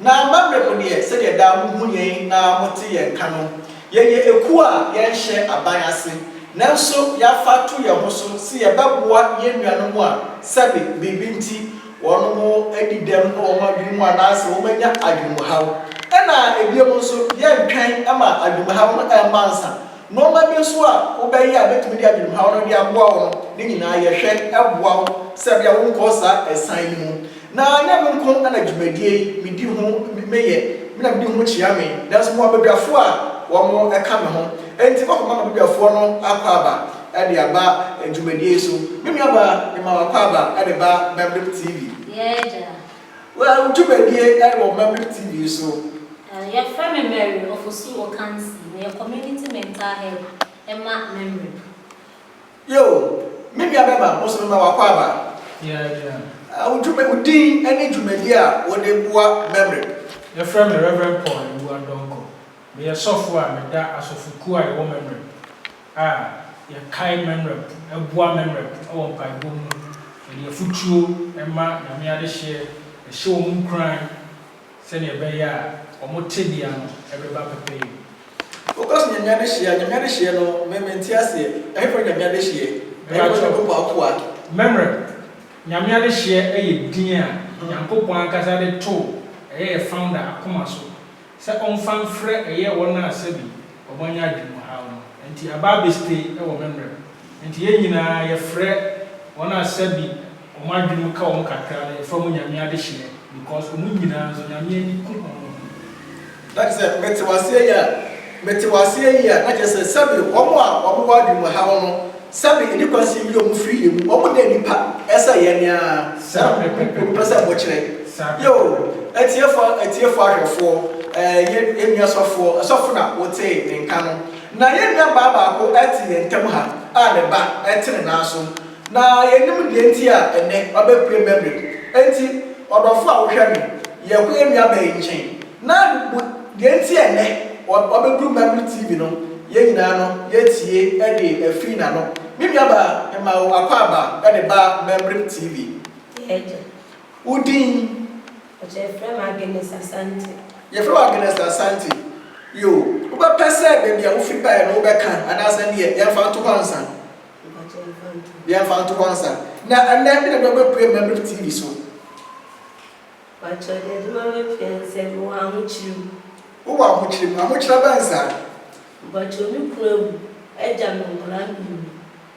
Na m'awerɛ mo deɛ sɛdeɛ daa mo hu yɛn na mo te yɛn nka no, yɛyɛ ekuo a yɛn nhyɛ aban ase, nanso y'afa to yɛn ho so se yɛ bɛ boa yɛn nuanom a sɛbe biribi nti wɔn mo adi dɛm wɔ wɔn adwene mu anaa se wɔn anya adwene mu haw. Ɛna ebiom nso yɛn ntwɛn ma adwene mu haw no ɛmma ansa, nnoɔma bi nso a wo bɛ yɛ a bɛtumi de adwene mu haw no de aboa wo no, ne nyinaa yɛ hwɛ boa wo sɛbea wo nkɔ saa ɛsan yi mu. Na nyɛ me nko na dwumadie yi medi ho meyɛ me na medi ho kyea me, nanso mewɔ abadwafoɔ a wɔka me ho, enti mɛkɔma m'abadwafoɔ no akwaaba de aba dwumadie yi so. Me nuabaa, mema wo akwaaba de ba Memberip TV. Yɛɛ agya. Wo dwumadie wɔ Memberip TV so. Yɛfrɛ me Mary Ofosu Okansi, meyɛ Community Mental Health ma Memberip. Yiw, me nuabarima, wo nso mema wo akwaaba. Ɛ, wo dwuma, wo din ne dwumadi a wode boa Memory. Yɛfrɛ me Reverend Paul Awuah Donkor. Meyɛ sɔfo a meda asɔfokuw a yɛwɔ Memory a yɛkae Memory, ɛboa Memory wɔ mpaebɔ mu, yɛde afutuo ma, Nyame adehyeɛ, yɛhyɛ wɔn nkuran, Sɛnea ɛbɛyɛ a wɔn tebea no bɛba pɛpɛyɛ mu. Focus Nyame adehyeɛ a, Nyame adehyeɛ no me mente aseɛ, ɛhefa ne Nyame adehyeɛ? Ɛyɛ Mepakyɛw, Onyankopɔn akoa? Memerɛ, Nyame adehyeɛ yɛ din a Nyankopɔn ankasa de too ɛyɛ yɛ founder akoma so sɛ ɔmfa mfrɛ ɛyɛ wɔn a sɛbi wɔanya adwenemhaw no, ɛnti aba abɛstay wɔ memerɛ mu. Enti yɛn nyinaa yɛfrɛ wɔn a sɛbi wɔn adwenem ka wɔn kakra no yɛfrɛ wɔn Nyame adehyeɛ because wɔn nyinaa nso Nyame ani ku wɔn ho. Na kyerɛ sɛ mete wo aseɛ yie a mete wo aseɛ yie a na kyerɛ sɛ sɛbi wɔn a wɔn wɔ adwenem ha wo no sɛbi ɛni kwan sɛ yɛyi wɔn firi yɛn mu wɔn nyɛ nipa ɛsɛ yɛn ne ara Saa pɛpɛpɛpɛ pɛ sɛ mo kyerɛ Saa yoo pɛpɛpɛpɛ atiefoɔ atiefoɔ ahwɛfoɔ ɛɛ yɛn yɛn nua sɔfoɔ sɔfo na wo tee ne nka no. Ná yɛn nuabaa baako te yɛn ntam ha a ne ba te ne nan so. Ná yennim nea enti a ɛnnɛ wabepue Memel. Enti, ɔdɔfo a wohwɛ me, yɛkɔ yɛn nuabaa yi nkyɛn, na bu nea enti a ɛnnɛ wabeduru Memel TV no. Yɛn nyinaa no, yetie de afi n'ano. Me nuabaa, mema wo akwaaba de ba Memel TV. Yɛagye wo din. Ɔkyɛ yɛfrɛ me Agnes Asante. Yɛfrɛ wo Agnes Asante. Yoo, wobɛpɛ sɛ baabi a wofi baeɛ no wobɛka anaasɛ neɛ yɛmfa nto hɔ ansa? Mpakyɛ yɛmfa nto hɔ. Yɛmfa nto hɔ ansa. Na ɛnnɛ deɛ na wobɛpue Mabrib TV so? Mpakyɛ deɛ ɛde ma mapue ne sɛ mewɔ ahokyere mu. Wowɔ ahokyere mu? Ahokyere abɛn saa? Mpakyɛ me kunu awu agya me nkwadaa mmienu.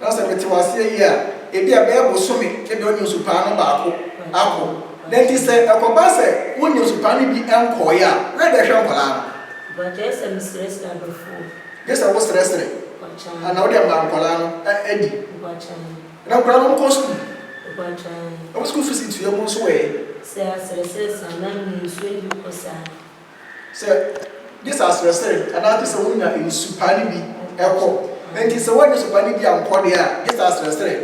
Na sɛ mete wo ase awie a, ebia ɛbɛyɛ bosome ne deɛ ɔnya nsu paa no baako akɔ. Na enti sɛ ɛkɔba sɛ wonnya nsu paa no bi nkɔeɛ a, woyɛ dɛn hwɛ nkwadaa no? Ɔbaa, Gye sɛ mesrɛsrɛ adɔfoɔ. Gye sɛ wosrɛsrɛ. Ɔbaa, Na wode ama nkwadaa no adi. Ɔbaa, Na nkwadaa no nkɔ sukuu. Ɔbaa, Wɔn sukuu fees tua mu nso ɛ? Sɛ asrɛsrɛ saa na mensuo adi kɔ saa. Sɛ, gye sɛ aserɛsere anaa gye sɛ wonya nsu pa no bi kɔ. Enti sɛ woannya nsu pa no bi ankɔ deɛ a, gye sɛ aserɛsere.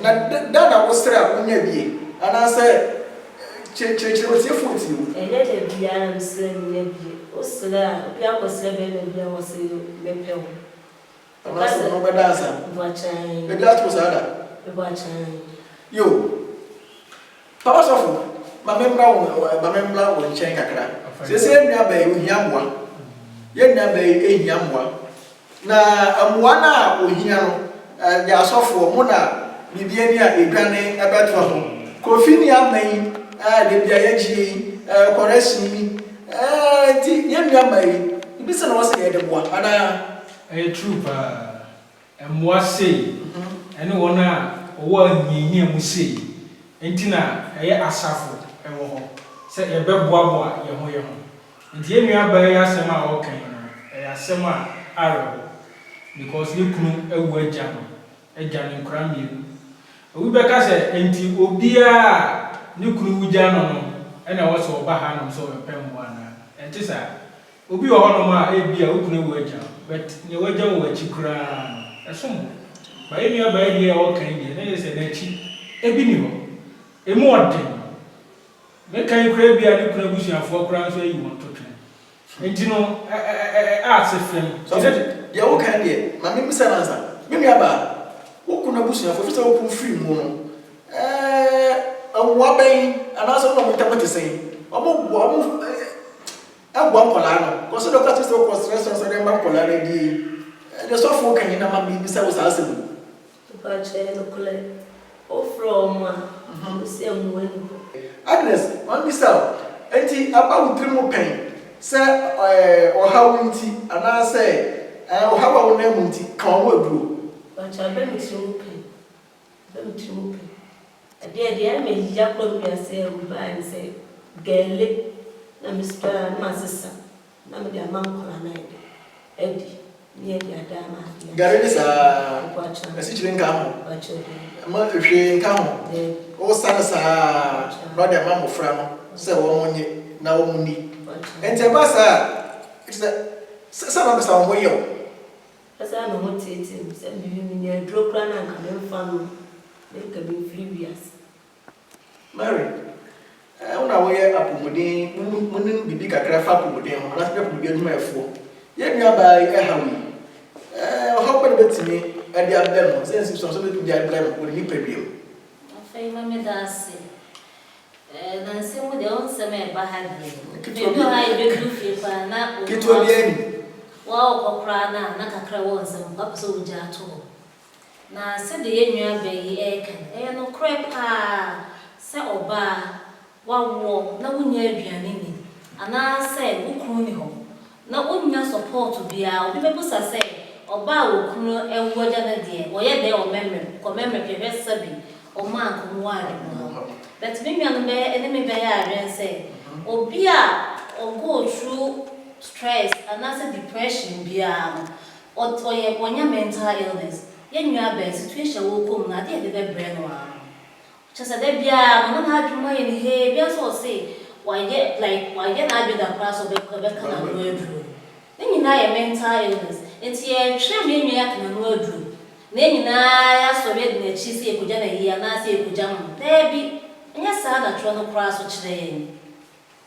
Na da na wosrɛ a wonya bi ɛ? Anaasɛ kyerɛkyerɛ otiefoɔ ti o. Ɛnyɛ da biara na mesrɛ a menya bi ɛ. Wosrɛ a, obi akɔsrɛ bɛrima bi a wɔse, Mepɛ wo. Ɛba sɛ. Ɔno bɛda ansa. Ɛba kyɛn. Bɛdi ato saa da. Ɛba kyɛn. Yo. Papa sɔfo, ma me mmra wo, ma me mmra wo nkyɛn kakra. Sese yɛn nua bɛɛ yi, ohia mmoa. Yɛn nua bɛɛ yi, ehia mmoa. Na mmoa no a ohia no, ɛyɛ asɔfoɔ, mo na biribi ani a edwane ɛbɛtoa ho. Kofi ni ama yi, ɛɛ, da bi a yɛgye yi, ɛɛ, kɔrɛsin ni, ɛɛ, nti yɛn nua bɛɛ yi, biribi sɛ na wɔsɛ yɛde boa, anaa? Ɛyɛ true paa. Mmoa sei ɛne wɔn a wɔwɔ ahiahia mu sei nti na ɛyɛ asafo wɔ hɔ sɛ yɛbɛboaboa yɛn ho yɛn ho. Nti yɛn nua baa yi asɛm a ɔreka yi no ɛyɛ asɛm a awerɛho because ne kunu awu agya no agya ne nkwadaa mmienu. Obi bɛka sɛ nti obiara a ne kunu wu gya no no na ɛwɔ sɛ ɔba hanom sɛ ɔbɛpɛ mmoa anaa? Ɛnte saa. Obi wɔ hɔnom a ebia wo kunu awu agya wo, but nea wagya wɔ w'akyi koraa no, ɛsom bo. Ma yɛn nuabaa yi deɛ a ɔreka yi deɛ, na kyerɛ sɛ n'akyi bi nni hɔ. Emu ɔden. Meka yi koraa ebia ne kunu abusuafoɔ koraa nso ayi wɔn totwɛn. Enti no, ɛ, ɛ, ɛ, ɛ, ɛ ase fam. Nti na. Sɔfo, deɛ woreka no deɛ, ma memmisa no ansa. Me nuabaa, wo kunu abusuafoɔ, efisɛ wo kunu firii mu no, ɛɛ, mmoa bɛn, anaasɛ wo ne wɔn ntam te sɛn? Wɔboa, wɔn, ɛ, ɛ. Ɛboa nkwadaa no. Kɔ so na woka kyerɛ sɛ wokɔ srɛsrɛ sɛ wode ama nkwadaa no adie. Ɛdeɛ sɔfo woka hena ma mebisa wo saa asɛm yi. Papa kyɛ nokorɛ wo frɛ wɔn a wo se mmoa ni hɔ. Agnes ma mebisa wo ɛnti aba wo tiri mu pɛn sɛ ɔhaw nti anaa sɛ ɔhaw a wo nan mu nti ka wɔn aduro. Papa kyɛ aba me tiri mu pɛn Sɛ me tirim pɛ adeɛ deɛ ɛyɛ me ya koraa me wiase awu baeɛ no sɛ gɛlle na me sika na masesa na mede ama nkwadaa no ayɛdɛ adi ne yɛde ada ama adeɛ Gɛlle ne saa asikyire nka ho ma hwee nka ho wo sa no saa na wode ama mmɔfra no sɛ wɔn nye na wɔn nni ɛnti ɛba saa a ɛfisɛ sɛ na wode sa wo ho yɛ wo. Asaa me ho teetee me sɛ me mini aduro koraa na anka me nfa nom na anka me mfiri wiase. Mary, Ɛɛ wo na wo yɛ apomuden wo nim biribi kakra fa apomuden ho anaasɛ woyɛ apomuden adwumayɛfoɔ? Yɛn nua baa yi ɛhaw yi ɛɛ ɔhaw bɛn na obetumi ɛde abrɛ no sɛ nsɛmfua nso obetumi de abrɛ no wɔ ne nipadua mu? Afei ma me da ase. Nansa mu deɛ wo nsɛm ɛba ha deɛ baabi wɔ hɔ a yɛbɛduru fie koraa na wo a wokɔ koraa no a na kakra wɔ wo nsam mpo wapɛ sɛ wogya ato hɔ. Na sɛdeɛ yɛn nuabaa yi reka no ɛyɛ nokorɛ pa ara sɛ ɔbaa wawoɔ na wonnya aduane nni anaasɛ wo kunu nni hɔ Na ɔnnya sɔpɔɔto biaa, obi bɛbusa sɛ ɔbaa a ɔkunu awu agya no deɛ wɔyɛ dɛn wɔ mɛmrɛm, kɔ mɛmrɛ hwɛ hwɛ sɛbi ɔmɔ anka ɔmo wɔ adwene mu no. But me nuanom bɛyɛ ɛne me bɛyɛ adwene sɛ obi a ɔ go through stress anaasɛ depression biaa no ɔt ɔyɛ ɔnya mental illness. Yɛn nua bɛn situation a ɔɔkɔ mu no adeɛ a ɛde bɛbrɛ no ara no Kyerɛ sɛ da biara no na n'adwene mu ayɛ no hee, ebiara nso ɔse wayɛ like wayɛ n'adwene da koraa sɛ ɔbɛ ɔbɛka n'ano aduro. Ne nyinaa yɛ mental illness. Nti yɛtwerɛ mu yɛn nua yi aka n'ano aduro na yɛn nyinaa yɛasɔre adi n'akyi sɛ yɛkɔgya no ayie anaa sɛ yɛkɔgya no no? Daabi, ɛnyɛ saa na twerɛ no koraa nso kyerɛ yɛn.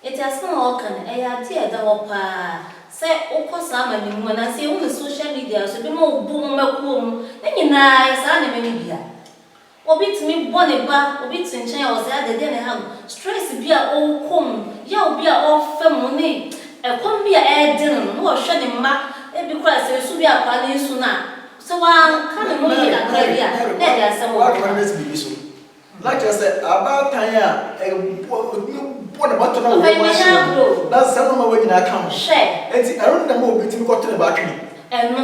Nti asɛm a ɔreka no ɛyɛ adeɛ a ɛda hɔ pa ara. Sɛ wokɔ saa amane mu anaa sɛ yɛhu no social media so, ebinom bɔ wɔn akuo mu, ne nyinaa yɛ saa nneɛma no bi a. Obi tumi bɔ ne ba, obi te nkyɛn a ɔsɛ adɛ, dɛn na ɛha no? Stress bi a ɔrekɔ mu, yaw bi a ɔrefa mu ne ɛkɔm bi a ɛrede no no na ɔhwɛ ne mma, ebi koraa sɛ nsu bi akora ne nsu no a, sɛ wanka ne ho yie kakra bi a na ɛde asɛm wɔ hɔ paa. Papa yi manya agorɔ o, hwɛ. Ɛno.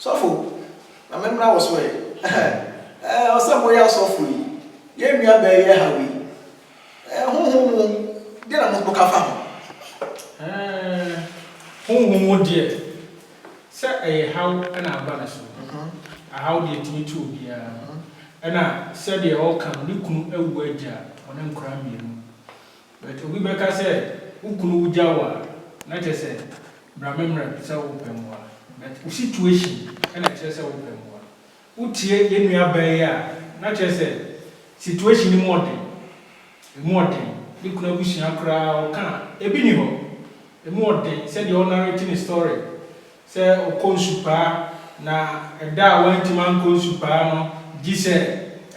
Sɔfo, na me mmra wo so ɛ. Ɛɛ, ɔsɛ mo yɛ asɔfo yi, yɛn nua bɛɛ yɛ ha wei. Ɛɛ, honhom mu deɛ na mo ka fa ho? Ɛɛ, honhom mu deɛ, sɛ ɛyɛ haw na aba ne so, ahaw deɛ ɛtumi to obiara. Ɛna sɛdeɛ ɔreka no, ne kunu awu agya wɔn nkwadaa mmienu. But obi bɛka sɛ wo kunu wo gya wo a na kyerɛ sɛ bra me mmra bi sɛ wo pɛ mmoa but wo situation ɛna ɛkyerɛ sɛ wo pɛ mmoa. Wo tie yɛn nua baa yi a na kyerɛ sɛ situation no mu ɔden, ɛmu ɔden, ne kunu abusua koraa ɔka a ɛbi ni hɔ, ɛmu ɔden sɛdeɛ ɔnarrate ne story Sɛ ɔkɔ nsu paa na ɛda a wantumi ankɔ nsu paa no gye sɛ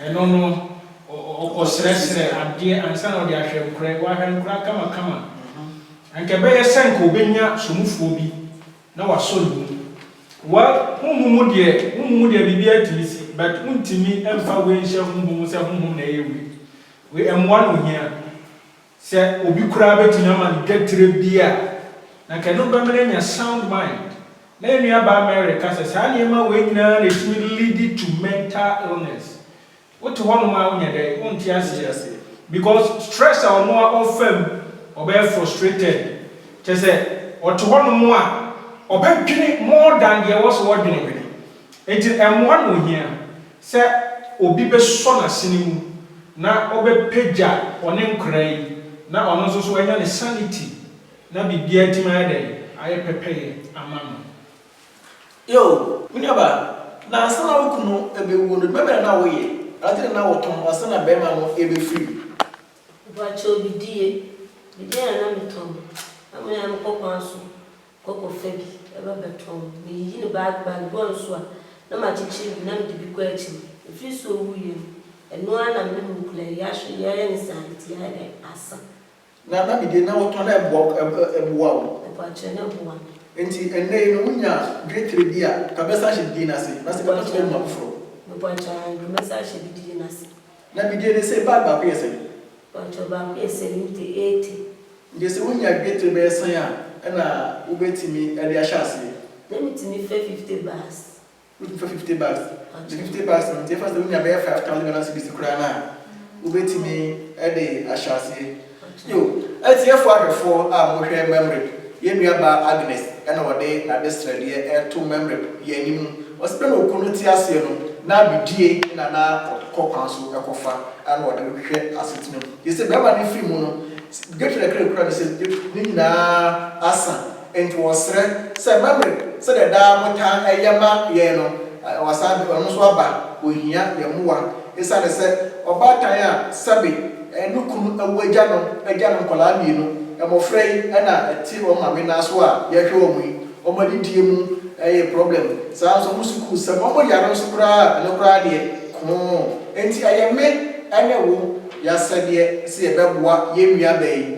ɛno no ɔkɔsrɛsrɛ adeɛ ansa na ɔde ahwɛ nkorɛ, wahwɛ nkoraa kamakama a, anka ɛbɛyɛ sɛ anka ɔbɛnya somufoɔ bi na wasɔ ne mu. Well, honhom mu deɛ, honhom mu deɛ biribiara tumi si but wontumi mfa wei nhyɛ honhom mu sɛ honhom na ɛyɛ wei. Wei, mmoa na ɔhia. Sɛ obi koraa betumi ama ne twatire bi a, na anka ɛno bɛma no anya sound mind. Na yɛn nuabaa Mary ka sɛ, saa nneɛma wei nyinaa na etumi lead to mental illness. Wote hɔnom a wonyɛ dɛn? Wonte aseɛ. Because stress a ɔno ara ɔfa mu, ɔbɛyɛ frustrated. Kyerɛ sɛ, ɔte hɔnom a, ɔbɛdwene more than deɛ ɛwɔ sɛ ɔdwene. Enti ɛmmoa na ohia. Sɛ obi bɛsɔ n'asene mu na ɔbɛpagya ɔne nkwadaa yi na ɔno nso so wanya ne sanity na biribiara atumi ayɛ dɛn? Ayɛ pɛpɛyɛ ama no. Eo, me nuabaa, na ansa na wo kunu bɛwuo no, adwuma bɛn na na woyɛ? Ade na na wotɔn ansa na barima no rebɛfiri mu? Mpakyɛw, Bidie. Bidie na na metɔn. Ná me ara mekɔ kwan so. Koko fa bi, ɛba bɛtɔn no. Meyiyi no bag bag bi wɔ ne so a, na makyekyere bi na mede bi kɔ akyi no. Ɛfiri sɛ ɔwuiɛ no, ɛno ara na me ne no kura yi, yɛahwɛ yi, ayɛ ne saa, ɛti ayɛ dɛn? Asa. Na na deɛ na wotɔ no ɛboa ɛboa wo? Ɛboa kyerɛ, na ɛboa me. Ɛnti ɛnnɛ yi no wonya dwetire bi a, ka bɛsan hyɛ didie no ase, na sɛ ka bɛtɔ agu mu a, foforɔ. Meboa kyɛ, aane, ka bɛsan hyɛ didie no ase. Na me die ne se bag baako yɛ sɛn? Mpakyɛw baako yɛ seventy eighty. Nti se wo nya dwetre bɛyɛ sɛn a ɛna wo bɛ timi de ahyɛ aseɛ? Na me timi fɛ fifty bags. Wo timi fɛ fifty bags? Nti fifty bags no nti yɛfa se wo nya bɛyɛ five thousand Ghana cedis koraa no a wo bɛ timi de ahyɛ aseɛ? Yiw, atiefo ahwɛfo a wɔhwɛ Mamrep, yɛn nuabaa Agnes na ɔde n'ade srɛdeɛ reto Mamrep yɛn anim. Ɔse bɛ na ɔku no te aseɛ no, na bidie na na ɔkɔ kwan so kɔfa na ɔde hwehwɛ asetena mu. Gyese bɛrima no firi mu no, Gertrude kra kura no sɛ ne nyinaa asa. Enti wɔsrɛ sɛ, Mamere sɛdeɛ daa motaa yɛ ma yɛn no, wɔasan de ɔno nso aba, ɔhia yɛn mmoa. Esiane sɛ ɔbaatan a sɛbe ne kunu awu agya no agya no nkwadaa mmienu, mmɔfra yi na ɛte wɔn maame nan so a yɛhwɛ wɔn yi, wɔn adidie mu yɛ problem, saa ara nso wɔn sukuusɛm, wɔn yare nso koraa a, ɛno koraa deɛ koo. Enti ɛyɛ me ne wo y'asɛdeɛ sɛ yɛbɛboa yɛn nuabaa yi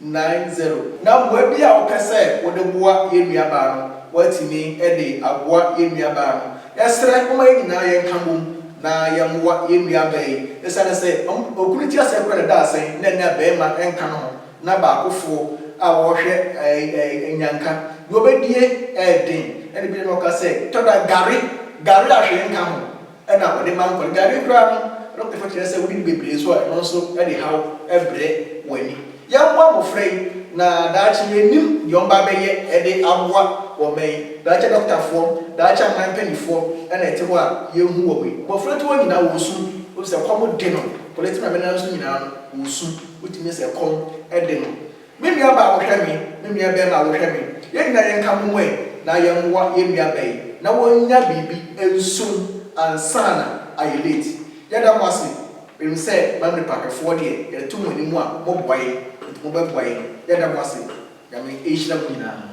nine zero. Na mmoa bi a wopɛ sɛ wode boa yɛn nuabaa no, woatumi de aboa yɛn nuabaa no. Yɛsrɛ, momma yɛn nyinaa yɛnka bom na yɛmmoa yɛn nuabaa yi. Esiane sɛ okunu ti aseɛ kura ne dadesɛn na ɛnnɛ barima nka ne ho na baakofoɔ a ɔrehwɛ nnyanka deɛ ɔbɛdie ɛyɛ den, ɛna bi na ɔka sɛ, tɔ da gare, gare a hwee nka ho. na wɔde ma nkwa no. Gari koraa no, adɔkotafo kyerɛ sɛ wodi no bebree nso a, ɛno nso de haw brɛ w'ani. Yɛmmoa mmofra yi, na daakye yennim nea wɔbɛba abɛyɛ de aboa wɔn mma yi. Daakye adɔkotafoɔ, daakye aman mpanimfoɔ na ɛte hɔ a yɛrehu wɔn yi. Mmofra nketewa nyinaa wɔresu, wofisɛ ɛkɔm de no. Polytena menna nso nyinaa no, wɔresu. Wotumi sɛ ɛkɔm de no. Me nua baa wo hwɛ me, me nua bɛɛma wo hwɛ me, yɛn nyinaa yɛn ka mom ɛ na yɛn mmoa yɛn nua bɛ yi na wɔn nya biribi nsum ansana ayɛ late. Yɛ da mo ase, me nim sɛ Mamlepa ahwɛfoɔ deɛ yɛde to mo anim a mo boa yɛn nti mo bɛ boa yɛn, yɛ da mo ase, Nyame nhyira mo nyinaa.